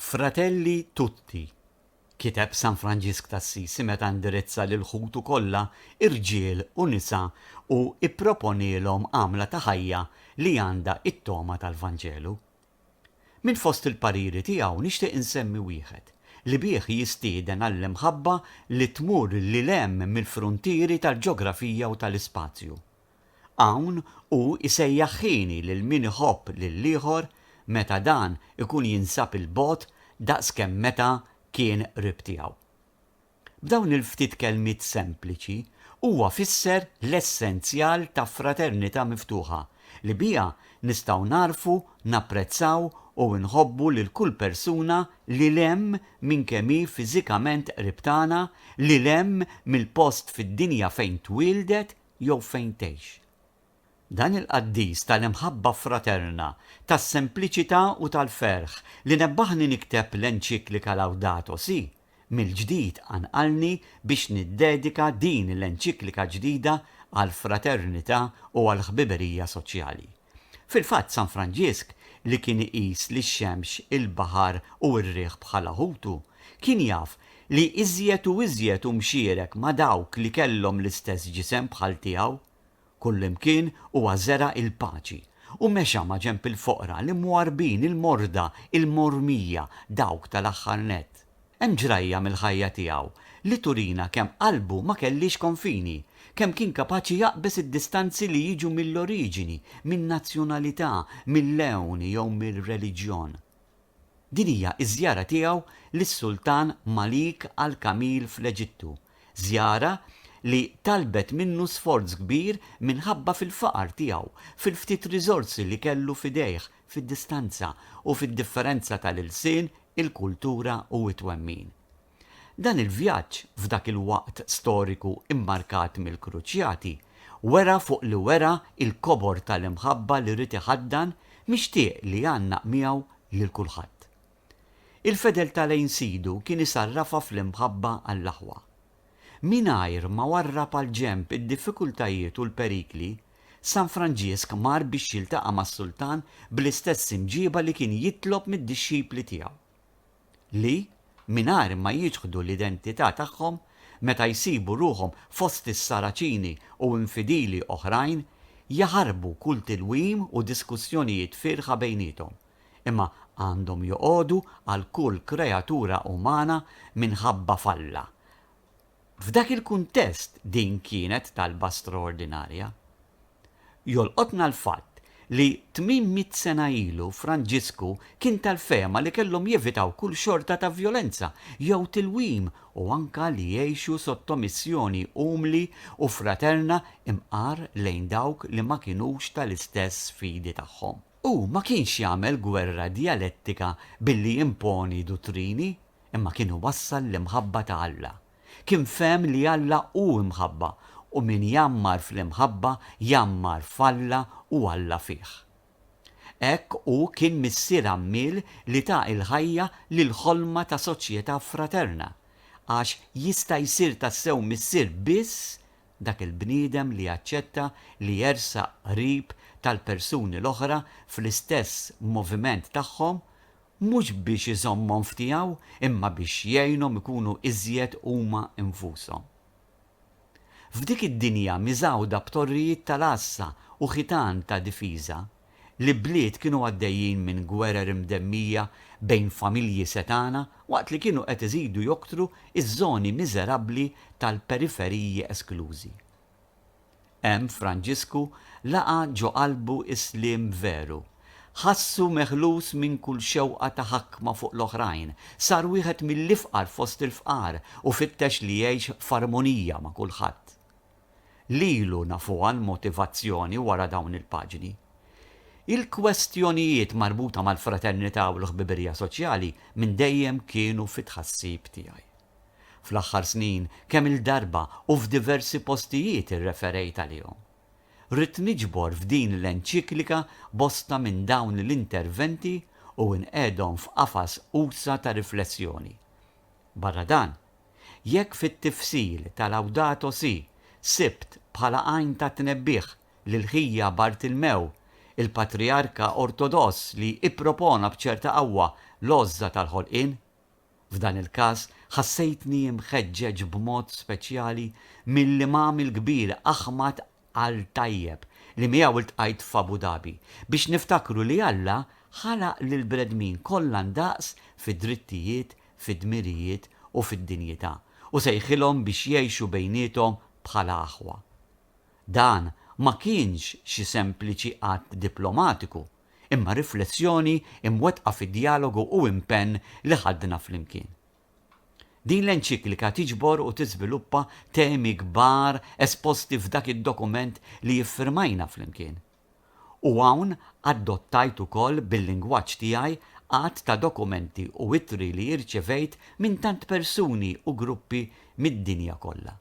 Fratelli tutti, kiteb San Franġisk t'Assisi meta indirizza lil ħutu kollha irġiel u nisa u ipproponielhom għamla ta' ħajja li għandha t-togħma tal-Vanġelu. Minn fost il-pariri tiegħu nixtieq insemmi wieħed, li bih jistieden għall-imħabba li tmur lil hemm mill-fruntieri tal-ġografija u tal-ispazju. Hawn hu jsejjaħ ħini lil min iħobb lill-ieħor meta dan ikun jinsab 'il bogħod daqs kemm meta kien qrib tiegħu. B'dawn il-ftit kelmiet sempliċi huwa fisser l-essenzjal ta' fraternità miftuħa li biha nistgħu nagħrfu, napprezzaw u nħobbu lil kull persuna lil hemm minn kemm hi fiżikament qrib tagħna, lil hemm mill-post fid-dinja fejn twieldet jew fejn tgħix. Dan il-qaddis tal-imħabba fraterna, tas-sempliċità u tal-ferħ li nebbaħni nikteb l-enċiklika Laudato Si, mill-ġdid qanqalni biex niddedika din l-enċiklika ġdida għall-fraternità u għall-ħbiberija soċjali. Fil-fatt San Franġisk, li kien iqis lix-xemx, il-baħar u r-riħ bħala ħutu, kien jaf li iżjed u iżjed hu mxierek ma' dawk li kellhom l-istess ġisem bħal tiegħu. Kullimkien huwa żera' il-paċi u mexa maġenb il-foqra, l-imwarrbin, il-morda, il-mormija, dawk tal-aħħar nett. Hemm ġrajja mill-ħajja tiegħu li turina kemm qalbu ma kellhiex konfini, kemm kien kapaċi jaqbeż id-distanzi li jiġu mill-oriġini, min-nazzjonalità, mil-lewn jew mir-reliġjon. Din hija ż-żjara tiegħu lis-Sultan Malik al-Kamil fl-Eġittu, żjara li talbet minnu sforz kbir minħabba fil-faqar tiegħu, fil-ftit riżorsi li kellu f'idejh, fid-distanza u fid-differenza tal-ilsien, il-kultura u t-twemmin. Dan il-vjaġġ, f'dak il-waqt storiku mmarkat mill-Kruċjati, wera fuq li wera l-kobor tal-imħabba li ried iħaddan, mixtieq li jgħannaq miegħu lil kulħadd. Il-fedeltà lejn Sidu kien isarrafha fl-imħabba għall-aħwa. Mingħajr ma warrab għal ġenb id-diffikultajiet u l-perikli, San Franġisk mar biex jiltaqa' mas-sultan bl-istess imġieba li kien jitlob mid-dixxipli tiegħu, li, mingħajr ma jiċħdu l-identità tagħhom, meta jsibu ruħhom fost is-Saraċini u infidili oħrajn, jaħarbu kull tilwim u diskussjonijiet fierħa bejniethom. imma għandhom joqogħdu għal kull kreatura umana minħabba f'Alla. F'dak il-kuntest din kienet talba straordinarja. Jolqotna l-fatt li tmien mitt sena ilu Franġisku kien tal-fehma li kellhom jevitaw kull xorta ta' vjolenza jew tilwim u anke li jgħixu sottomissjoni umli u fraterna imqar lejn dawk li ma kinux tal-istess fidi tagħhom. Hu ma kienx jagħmel gwerra djalettika billi jimponi duttrini, imma kien iwassal l-imħabba ta' Alla. Kien fehem li Alla hu imħabba u min jgħammar fl-imħabba jgħammar f'Alla u Alla fih. Hekk hu kien missier għammiel li ta il-ħajja lill-ħolma ta' soċjetà fraterna, għax jista' jsir tassew missier biss dak il-bniedem li jaċċetta li jersaq qrib tal-persuni l-oħra fl-istess moviment tagħhom, mhux biex iżommhom f'tiegħu imma biex jgħinhom ikunu iżjed huma nfushom. F'dik id-dinja miżgħuda b'torrijiet tal-għassa u ħitan ta' difiża, L-ibliet kienu għaddejjin minn gwerer imdemmija bejn familji setgħana waqt li kienu qed iżidu joktru ż-żoni miżerabbli tal-periferiji esklużi. Hemm Franġisku laqa' ġo qalbu s-sliem veru. Ħassu meħlus minn kull xewqa ta' ħakma fuq l-oħrajn, sar wieħed mill-ifqar fost il-fqar u fittex li jgħix f'armonija ma' kulħadd. lilu nafuha l-motivazzjoni wara dawn il-paġni. Il-kwestjonijiet marbuta mal-fraternità u l-ħbibirja soċjali minn dejjem kienu fi tħassib tiegħi. Fl-aħħar snin kemm-il darba u f'diversi postijiet irreferejt għalihom. Ridt niġbor f'din l-enċiklika bosta minn dawn l-interventi u nqegħedhom f'qafas usa' ta' riflessjoni. Barra dan, Jekk fit-tifsil ta' Laudato si' sibt bħala għajn ta' tnebbiħ lil ħija Bartilmew, il-patrijarka Ortodoss li ippropona b'ċerta qawwa l-għożża tal-ħolqien, f'dan il-każ ħassejtni mħeġġeġ b'mod speċjali mill-Imam il-Kbir Aħmad Għal tajjeb li miegħu ltqajt f'Abu Dhabi, biex niftakru li Alla ħalaq lill-bnedmin kollha ndaqs fid-drittijiet, fid-dmirijiet u fid-dinjità, u sejħilhom biex jgħixu bejniethom bħala aħwa. Dan ma kienx xi sempliċi att diplomatiku, imma riflessjoni mwettqa fi djalogu u impenn li ħadna flimkien. Din l-enċiklika tiġbor u tiżviluppa temi kbar esposti f'dak id-dokument li iffirmajna flimkien. U hawn adottajt ukoll bil-lingwaġġ tiegħi għadd ta' dokumenti u ittri li irċevejt minn tant persuni u gruppi mid-dinja kollha.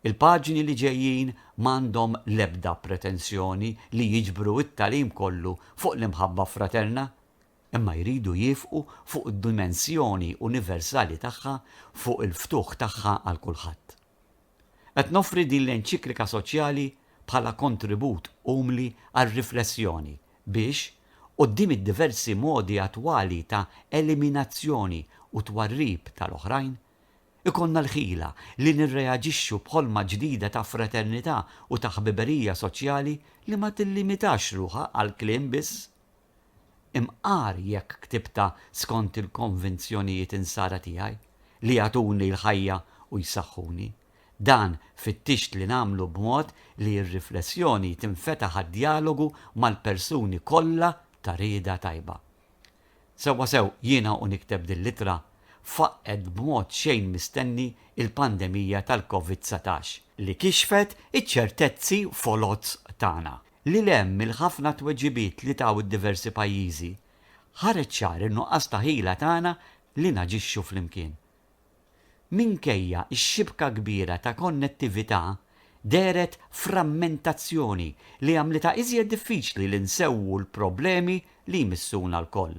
Il-paġni li ġejjin m'għandhom l-ebda pretensjoni li jiġbru t-tagħlim kollu fuq l-imħabba fraterna, imma jridu jiefqu fuq id-dimensjoni universali tagħha fuq il-ftuħ tagħha għal kulħadd. Qed noffri din l-enċiklika soċjali bħala kontribut umli għar-riflessjoni biex, quddiem id-diversi modi attwali ta' eliminazzjoni u twarrib tal-oħrajn, ikollna l-ħila li nirreaġixxu b'ħolma ġdida ta' fraternità u ta' ħbiberija soċjali li ma tillimitax ruħha għall-kliem biss. Imqar jekk ktibtha skont il-konvinzjonijiet insara tiegħi, li jagħtuni l-ħajja u jsaħħuni. Dan fittixt li nagħmlu b'mod li r-riflessjoni tinfetaħ għad-djalogu mal-persuni kollha ta' rieda tajba. Sewwasew jiena u nikteb dil-ittra, faqqgħet b'mod xejn mistenni l-pandemija tal-Covid dsatax, li kixfet iċ-ċertezzi foloz tagħna, Lil hemm mill-ħafna tweġibiet li taw id-diversi pajjiżi, ħareġ ċar in-nuqqas ta' ħila tagħna li naġixxu flimkien. Minkejja x-xibka kbira ta' konnettività, dehret frammentazzjoni li għamlitha iżjed diffiċli li nsewwu l-problemi li jmissuna lkoll.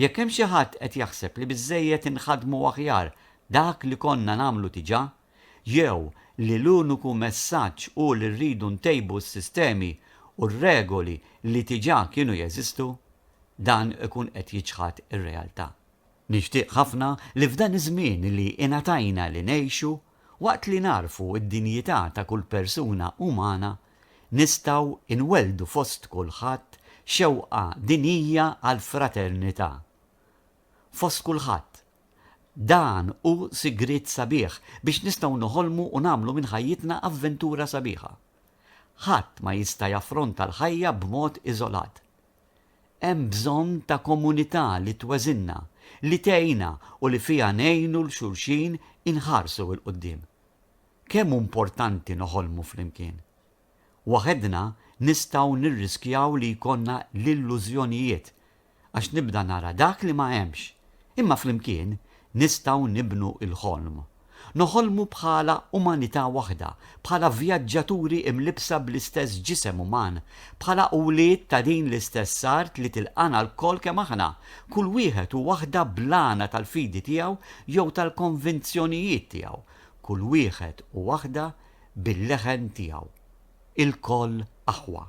Jekk hemm xi ħadd qed jaħseb li biżżejjed inħaddmu aħjar dak li konna nagħmlu diġà, jew li l-uniku messaġġ hu li rridu ntejbu s-sistemi u r-regoli li diġà kienu jeżistu, dan ikun qed jiċħad ir-realtà. Nixtieq ħafna li f'dan iż-żmien li ingħatajna li ngħixu, waqt li nagħrfu d-dinjità ta' kull persuna umana, nistgħu nwelldu fost kulħadd xewqa dinjija għall-fraternità. Fost kulħadd. Dan hu sigriet sabiħ biex nistgħu noħolmu u nagħmlu minn ħajjitna avventura sabiħa. Ħadd ma jista' jaffronta l-ħajja b'mod iżolat. Hemm bżonn ta' komunità li tweżinna, li tgħinna u li fiha ngħinu 'l xulxin inħarsu 'l quddiem. Kemm hu mportanti noħolmu flimkien! Waħedna nistgħu nirriskjaw li jkollna l-illużjonijiet, għax nibda nara dak li ma hemmx. Imma flimkien nistgħu nibnu l-ħolm. Noħolmu bħala umanità waħda, bħala vjaġġaturi imlibbsa bl-istess ġisem uman, bħala wlied ta' din l-istess art li tilqagħna lkoll kemm aħna, kull wieħed u waħda bl-għana tal-fidi tiegħu jew tal-konvinzjonijiet tiegħu, kull wieħed u waħda bil-leħen tiegħu, ilkoll aħwa.